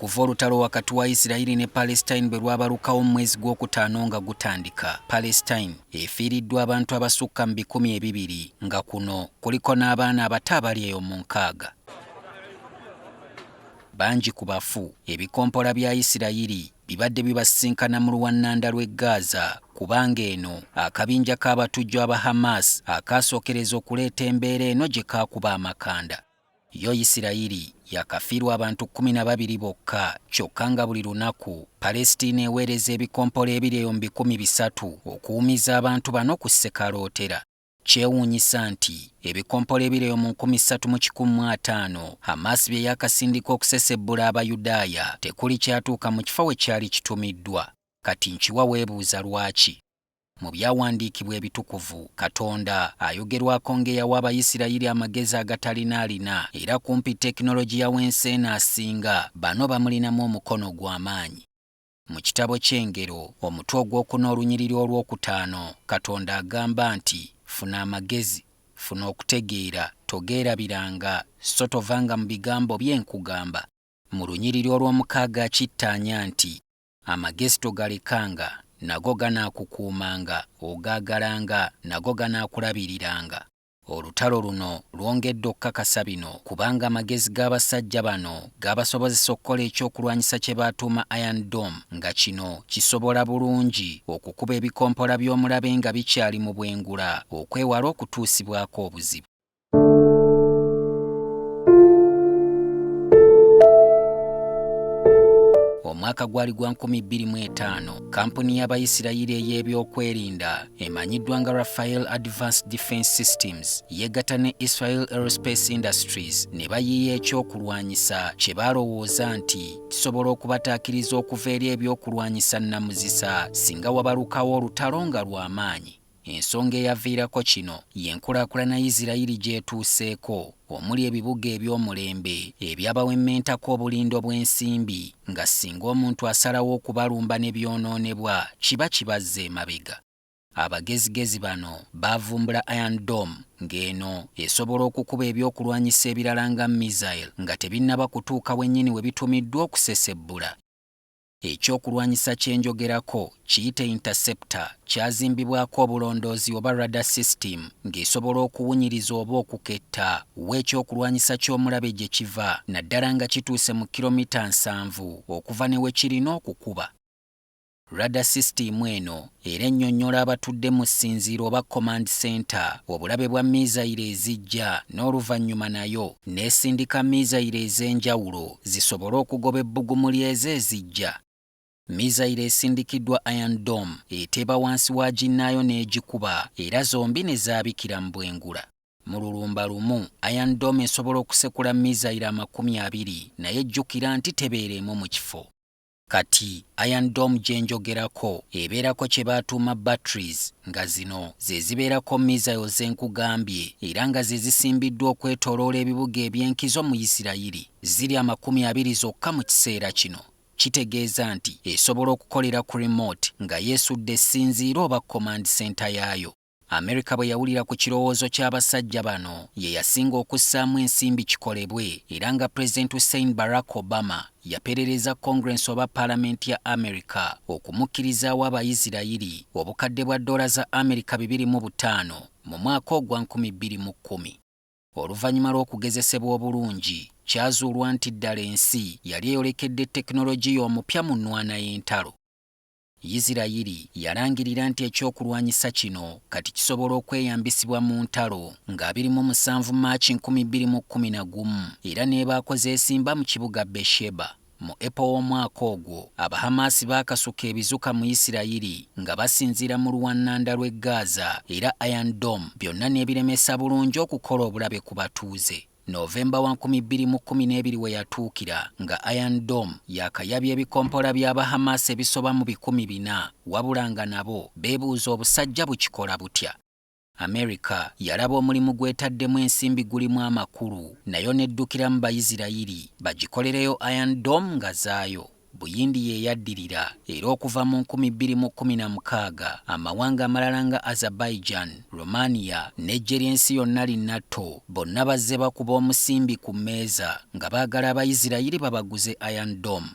okuva olutalo wakati wa isirayiri ne palestine bwe lwabalukawo mu mwezi gw'okutaano nga gutandika palestine efiiriddwa abantu abasukka mu bikumi ebibiri nga kuno kuliko n'abaana abato abali eyo mu nkaaga bangi ku bafu ebikompola bya isirayiri bibadde bibasisinkana mu luwannanda lw'e Gaza kubanga eno akabinja k'abatujju aba Hamas akaasookereza okuleeta embeera eno gye kaakuba amakanda. Yo Yisirayiri yakafiirwa abantu kkumi na babiri bokka kyokka nga buli lunaku Palestina eweereza ebikompola ebiri eyo mu bikumi bisatu okuwumiza abantu bano ku ssekalootera. Kyewuunyisa nti ebikompola ebiri eyo mu nkumi ssatu mu kikumi mu ataano Hamaasi bye yaakasindika okusesebbula Abayudaaya tekuli kyatuuka mu kifo we kyali kitumiddwa. Kati nkiwa weebuuza lwaki? Mu Byawandiikibwa Ebitukuvu, Katonda ayogerwako ng'eyawa Abayisirayiri amagezi agatalina alina, era kumpi tekinologiya w'ensi eno asinga bano bamulinamu omukono ogw'amaanyi. Mu kitabo ky'Engero, omutwe ogw'okuna olunyiriri olw'okutaano, Katonda agamba nti, Funa amagezi, funa okutegeera, togeerabiranga, so tovanga mu bigambo bye nkugamba. Mu lunyiriri olw'omukaaga akittaanya nti, Amagezi togalekanga, nago ganaakukuumanga, ogaagalanga, nago ganaakulabiriranga. Olutalo luno lwongedde okukakasa bino kubanga amagezi g'abasajja bano gaabasobozesa okukola ekyokulwanyisa kye baatuuma Iron Dome nga kino kisobola bulungi okukuba ebikompola by'omulabe nga bikyali mu bwengula okwewala okutuusibwako obuzibu. omwaka gwali gwa 2025 kampuni y'abayisirayiri ey'ebyokwerinda emanyiddwa nga Rafael Advanced Defense Systems yeegatta ne Israel Aerospace Industries ne bayiiya ekyokulwanyisa kye balowooza nti kisobola okubataakiriza okuva eri ebyokulwanyisa nnamuzisa singa wabalukawo olutalo nga lw'amaanyi. Ensonga eyaviirako kino y'enkulaakulana Isirayiri gy'etuuseeko. omuli ebibuga eby'omulembe ebyabawemmentako obulindo bw'ensimbi nga singa omuntu asalawo okubalumba ne byonoonebwa kiba kibazza emabega. Abagezigezi bano baavumbula Iron Dome ng'eno esobola okukuba ebyokulwanyisa ebirala nga missile nga tebinnaba kutuuka wennyini we bitumiddwa okusesebbula. Ekyokulwanyisa kye njogerako kiyite interceptor kyazimbibwako obulondoozi oba radar system ng'esobola okuwunyiriza oba okuketta wa ekyokulwanyisa ky'omulabe gye kiva naddala nga kituuse mu kiromita nsanvu okuva ne we kirina okukuba. Radar sisitiimu eno era ennyonnyola abatudde mu ssinziiro oba command centre obulabe bwa miizayiro ezijja n'oluvannyuma nayo n'esindika miizayiro ez'enjawulo zisobole okugoba ebbugumu ly'ezo ezijja. Miizayiro esindikiddwa Iron Dome eteeba wansi wa ginnaayo n'egikuba era zombi ne zaabikira mu bwengula. Mu lulumba lumu, Iron Dome esobola okusekula miizayiro amakumi abiri naye jjukira nti tebeera emu mu kifo. Kati Iron Dome gye njogerako ebeerako kye baatuuma batteries nga zino ze zibeerako mizayiro ze nkugambye era nga ze zisimbiddwa okwetooloola ebibuga eby'enkizo mu Yisirayiri. Ziri amakumi abiri zokka mu kiseera kino. Kitegeeza nti esobola okukolera ku remote nga yeesudde essinziiro oba command center yaayo. Amerika bwe yawulira ku kirowoozo ky'abasajja bano ye yasinga okussaamu ensimbi kikolebwe era nga Pulezidenti Hussein Barack Obama yaperereza Congress oba Palamenti ya Amerika okumukkirizaawo Abayisirayiri obukadde bwa ddoola za Amerika bibiri mu butaano mu mwaka ogwa nkumi bbiri mu kkumi. Oluvannyuma lw'okugezesebwa obulungi, kyazuulwa nti ddala ensi yali eyolekedde tekinologiya omupya mu nnwana y'entalo. Yisirayiri yalangirira nti ekyokulwanyisa kino kati kisobola okweyambisibwa mu ntalo nga abiri mu musanvu March nkumi bbiri mu kkumi na gumu era n'ebaako zeesimba mu kibuga Beersheba. Mu April w'omwaka ogwo, Abahamaasi baakasuka ebizuka mu Yisirayiri nga basinziira mu luwannanda lw'e Gaza era Iron Dome byonna n'ebiremesa bulungi okukola obulabe ku batuuze. November wa nkumi bbiri mu kkumi n'ebiri we yatuukira nga Iron Dome yaakayabya ebikompola by'aba Hamas ebisoba mu bikumi bina wabula nga nabo beebuuza obusajja bukikola butya. Amerika yalaba omulimu gw'etaddemu ensimbi gulimu amakulu nayo n'eddukiramu Bayisirayiri bagikolereyo Iron Dome nga zaayo. Buyindi ye yaddirira, era okuva mu nkumi bbiri mu kkumi na mukaaga amawanga amalala nga Azerbaijan, Romania, n'eggye ly'ensi yonna li NATO bonna bazze bakuba omusimbi ku mmeeza nga baagala Abayisirayiri babaguze Iron Dome.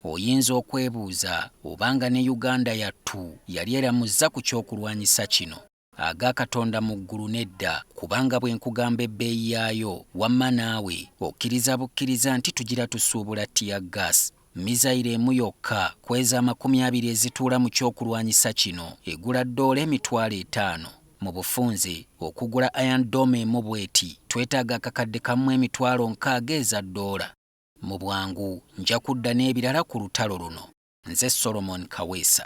Oyinza okwebuuza oba nga ne Uganda yattu yali eramuzza ku ky'okulwanyisa kino. Aga Katonda mu ggulu nedda, kubanga bwe nkugamba ebbeeyi yaayo, wamma naawe okkiriza bukkiriza nti tugira tusuubula tear gas. Mizayiro emu yokka ku ezo amakumi abiri ezituula mu ky'okulwanyisa kino egula ddoola emitwalo etaano. Mu bufunze, okugula Iron Dome emu bw'eti twetaaga akakadde kamu mu emitwalo nkaaga eza ddoola. Mu bwangu nja kudda n'ebirala ku lutalo luno. Nze Solomon Kaweesa.